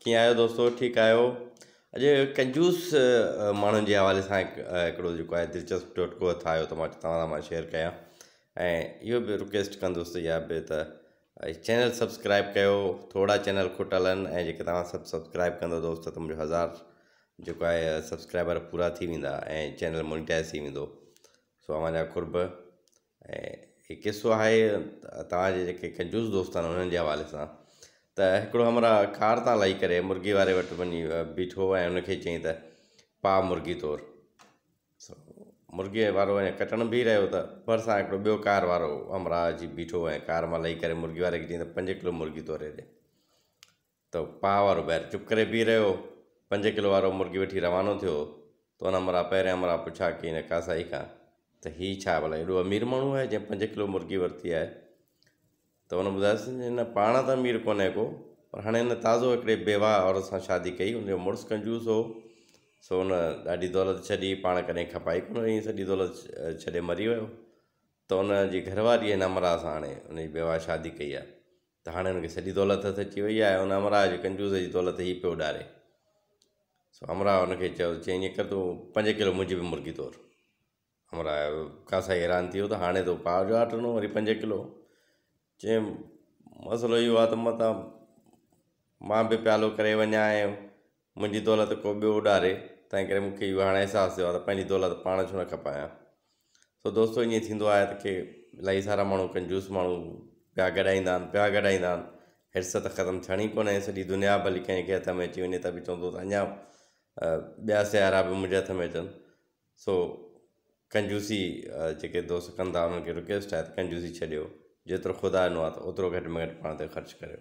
ڪيئن آهيو دوستو ٺيڪ آهيو اڄ ڪنجوس ماڻهن جي حوالي سان هڪڙو جيڪو آهي دلچسپ ٽوٽڪو هٿ آهيو ته توهان سان مان شيئر ڪيان ۽ اهو به رڪويسٽ ڪندوس ته يا به ته چينل سبسڪرائب ڪيو ٿورا چينل کٽل آهن ۽ جيڪي توهان سڀ سبسڪرائب ڪندو دوست ته منهنجو هزار جيڪو آهي سبسڪرائبر پورا ٿي ويندا ۽ چينل مونيٽائز ٿي ويندو سو اوهان جا قرب ۽ هڪ قصو آهي توهان جي جيڪي ڪنجوس دوست آهن انهن جي حوالي سان ته هڪڙو همراهه ڪار تان لهي ڪري مرغي واري وٽ وڃي بيٺو ۽ ان کي چيائين ته پاء مرغي طور مرغي وارو اڃا ڪٽڻ بيهي رهيو ته ڀرسان هڪڙو ٻيو ڪار وارو همراهه اچي بيٺو ۽ ڪار مان لهي ڪري مرغي واري کي چيائين ته پنج ڪلو مرغي توري ڏي ته پاء وارو بئر چپ ڪري بيهي رهيو. پنج ڪلو وارو مرغي وٺي روانو ٿيو ته ان همراهه پهرين همراهه پڇا ڪئي ان قاصائي کان ته هي ڇا ڀلا ايڏو امير ماڻهو آهي جنهن پنج ڪلو مرغي ورتي آهي ته ان ٻڌايس ته هن پاڻ ته امير ڪونهي ڪو پر هاڻي هن تازو هڪڙي بيواهه عورت سان شادي ڪئي ان جو مڙس ڪنجوس هو سو ان ڏاڍي دولت ڇڏي پاڻ ڪڏهن کپائي ڪونه ائين سڄي دولت ڇڏي مري ويو ته ان جي گهر واري هن همراهه سان هاڻي ان جي بيواهه شادي ڪئي آهي ته هاڻي هن کي سڄي دولت هٿ اچي وئي آهي ان همراهه جي ڪنجوس جي دولت هي پيو اڏاري سو همراهه هن کي چيو چيائين ايئن ڪر تون پنج ڪلو منهنجي به مرگي تور همراهه جو قاصائي حيران ٿي ويو ته هاڻي تو پاء جو آرڊر ڏنو وري پنج ڪلو چيم مسئلو اهو آهي ته متان مان به پيالو ڪري وڃان منهنجي دولت ڪو ٻيو اڏاري، تنهن ڪري مون کي اهو هاڻي احساس ٿيو آهي ته پنهنجي دولت پاڻ ڇو نه کپايان. سو دوستو ائين ٿيندو آهي ته ڪي الاهي سارا ماڻهو ڪنجوس ماڻهو پيا گڏائيندا آهن، پيا گڏائيندا آهن، حرص ته ختم ٿيڻي ڪونهي، سڄي دنيا ڀلي ڪنهن کي هٿ ۾ اچي وڃي ته به چوندو ته اڃا ٻيا سيارا به منهنجي هٿ ۾ اچن. سو ڪنجوسي جيڪي دوست ڪن ٿا انهن کي رڪويسٽ آهي ته ڪنجوسي ڇڏيو، جيترو خدا ڏنو آهي ته اوترو گهٽ ۾ گهٽ پاڻ تي خرچ ڪريو.